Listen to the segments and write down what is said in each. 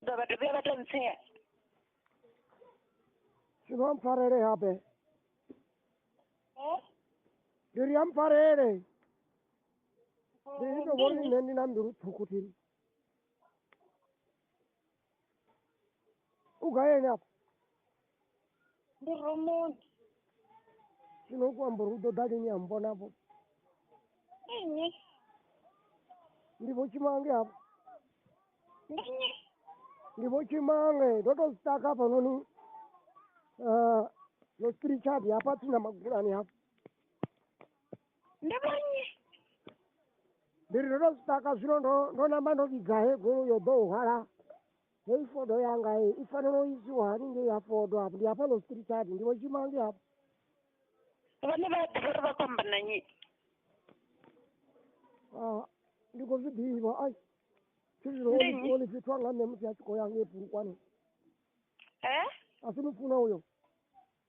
ḓo vha dovhuya vha tou ntsea si vha mpfarele habe Eh? ndi ri ya mpfarele ndi ndi to vhori nṋe ndi na mbilu ṱhukhu thini u gayeni afho ndi romoni zwino u khou amba uri u ḓo ḓa lini a mmbonavho nnyi ndi vho tshimange hafho ndi nnyi ndi vho tshimange ndo tou sitaka hafhanoni um no spirituali hafha tsini na magulani hafho ndi vho nnyi ndi ri ndo tou sitaka zwino ndo ndo namba ndo vhidza he golo yo ḓo u hwala Hei fodo yanga hei i fanela u isiwa hani ngei ha fodo hafho ndi hafha lositiri chati ndi vho tshima ngei hafho vhone vha ḓivha uri vha khou amba na nnyi Ah, ndi khou zwi ḓivha ai thi zwino Ndi nnyi? oli fhethu anga nṋe musi a tshi khou ya ngei pulukwane e a si mufuna uyo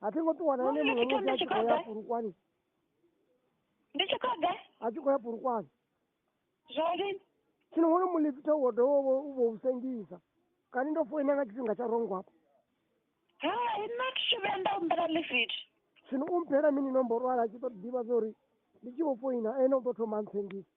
a thi ngo ṱuwa na ene muṅwe musi a tshi khou ya purukwane ndi tshi khou ḓa a tshi khou ya purukwane zwori tshino wono mulifitha wo dovha u vho u sengisa kani ndo foina nga tshifhinga tsha rongo hafho hai nna thi tshi vhuya nda humbela lifit tshino u mphela mini nomboro ala a tshi ṱoḓa ḓivha zwa uri ndi tshi vho foina ene u ḓo thoma ntsengisa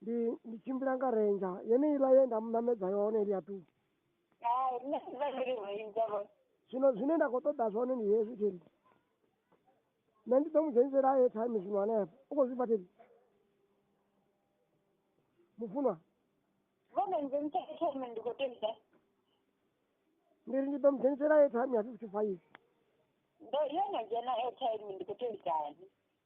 ndi ndi tshimbila nga renja yeneiḽa ye nda mu ṋamedza yone ili ya tuku hai nṋe ndi vha ndi renja vho zwino zwine nda khou ṱoḓa zwone ndi hezwi theli nṋe ndi ḓo mu dzhenisela ye time zwino hanefho u khou zwifha theli mufunwa vhone nze mutsheke thome ndi khou tenda ndi ri ndi ḓo mu dzhenisela ye time ya fifty five ndo yo no dzhena airtime ndi khou telikani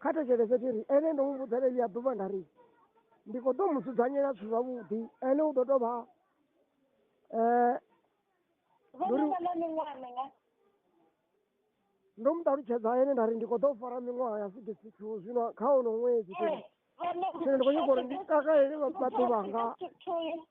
kha thetshelese tshi ri ene ndo mu vhudza ḽeḽi ya ḓuvha nda ri ndi khou ḓo mu dzudzanyela zwithu zwavhuḓi ene u ḓo tou vha um vhononga na miṅwaha minga ndo mu ṱalutshedza ene nda ri ndi khou ḓo fara miṅwaha ya sixty two zwino kha ono ṅwedzi zwino ndi khou nyaka uri ndi takalele vhaḓuvhanga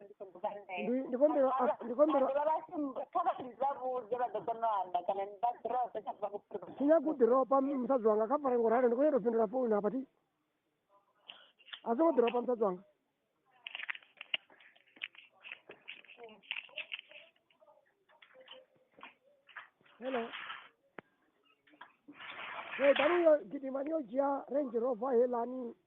Ndi- ndikombero a- ndikombero vhasimbakhavhazavhudze vha ḓo kona u amba kana ni vha drope kha vha kuḓi sinyakuḓiropa musadzi wanga kha fare ngoralo ndi khou nyanga u fhindula founu hapa ti a songo ḓiropa musadzi wanga hello Hey, bari yo gidimani yo dzhia range rover helani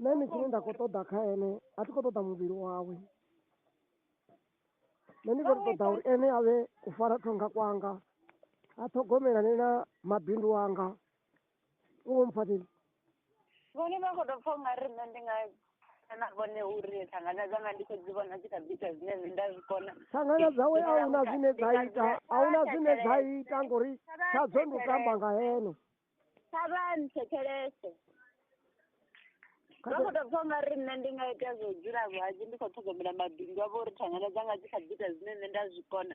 nṋe ni tshine nda khou ṱoḓa kha ene a thi khou ṱoḓa muvhili wawe nṋe ndi khou ṱoḓa uri ene a vhe u fara thonga kwanga a ṱhogomelane na mabindu anga u vho mpfhatheli vhone vha khou tou pfha unga ri nṋe ndi nga na vhone uri thangana dzanga ndi khou dzi vhona dzi kha ḓi ita zwine nṋe nda zwi kona thangana dzawe a huna zwine dza ita a huna zwine dza ita ngori tshadzo ndi u tamba nga hene kha vha nthetshelese vha khou tou pfa unga ri nṋe ndi nga ita zwo dzula vhuhadzi ndi khou ṱhogomela mabindu avho uri thangana dzanga dzi kha ḓi ita zwine nṋe nda zwi kona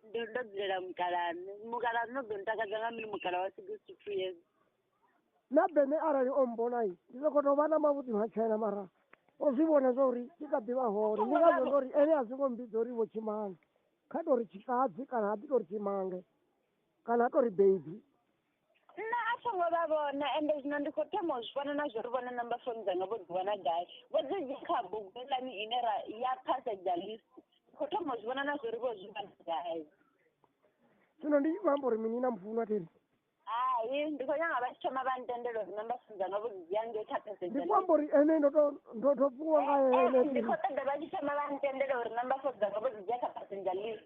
ndo ndo dzulela mukalaṋe mukalaṋe u ḓo ntakadza nga mini mukala wa sixty two years na bene arali o mmbonai ndi soko tou vha na mavhuḓi matshena mara o zwi vhona zwa uri ndi kha ḓi vha hone ndi ngazwo ndo ri ene a zwi ngo mmbidza uri vho tshimanga kha tou ri tshikadzi kana ha ḓi tou ri tshimange kana a tou ri baby nṋe a tho ngo vha vhona ende zwino ndi khou thoma u zwi vhona na zwo ri vhona namba foni dzanga vho ḓi wana gai vho ḓi dzhia kha bugu heiḽani ine ra ya phasedzha list khou thoma u zwi vhona na zwo ri vho zwi wana gai zwino ndi khou amba uri mini na mufunwa theri hai ndi khou nyanga vha tshi thoma vha ntendela uri namba foni dzanga vho dzi dzhia ngei kha phasedzha ndi khou amba uri ene ndo to ndo to fhiwa nga ene ndi khou ṱoḓa vha tshi thoma vha ntendela uri namba foni dzanga vho dzi dzhia kha phasedzha list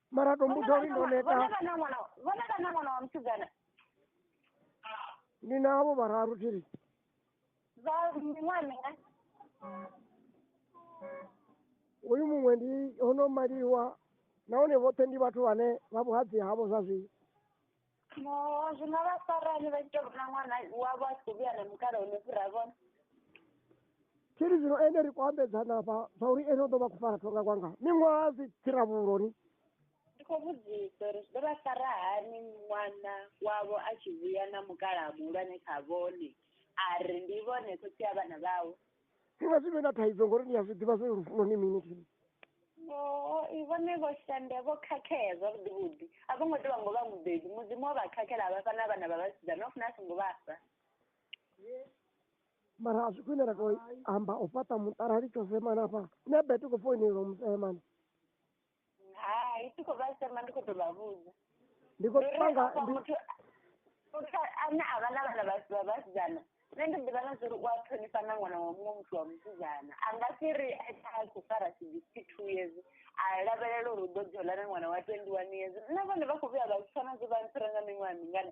mara to mbuta uri ndo neta vonaka na mwana wa- vonaka na mwana wa musidzana ndi navo vararu tiri za miṅwaha minga uyu muṅwe ndi hono maliwa nahone vhoṱhe ndi vhathu vhane vha vhuhadzi havho zwa zwino No, zwi nga vha farani vha tshi tou vhona ṅwana wavho a tshi khou vhuya na mukala hone fhira vhone. tshiri zwino ene ri khou ambedzana afha zwa uri ene o ḓo vha khou fara thonga kwanga miṅwaha zwi tsira vhuloni Ndi khou vhudzisa uri zwi ḓo vha fara hani ṅwana wavho a tshi vhuya na mukala muhulwane kha vhone a ri ndi vhone khotsi a vhana vhawe. zwi vha zwi vhe na thaidzo ngori ni a zwi ḓivha zwo lufuno ni mini kini vhone vho shanda vho khakhea zwavhuḓi vhuḓi a vho ngo tea vha ngo vha mubebi mudzimu wa vha khakhela a vhafha na vhana vha vhasidzana no funa a songo vhafha mara a zwi khwine ra to amba u fhaṱa muṱa ra litsho semana fha nṋe bete khou foinelwa musemana hai ti khou vha sema ndi khou tou vha vhudza ndi khou Uri panga hafha ndi- muthu muthu ane a vha na vhana vha vha vhasidzana nṋe ndi ḓivha na zwa uri u a ṱhonifha na ṅwana wa muṅwe muthu wa musidzana a nga si ri a tshi a khou fara sixty two years a lavhelela uri u ḓo dzula na ṅwana wa twenty one years nṋe vhone vha khou vhuya vha zwi pfha na zwo vha ntsira nga miṅwaha mingana